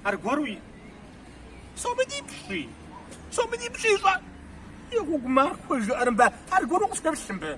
Аргуэру псоми дипщи, псоми дипщи щӏэ. И гъуэгу махуэ жыӏэрымбэ, аргуэру къысхуеплъымбы.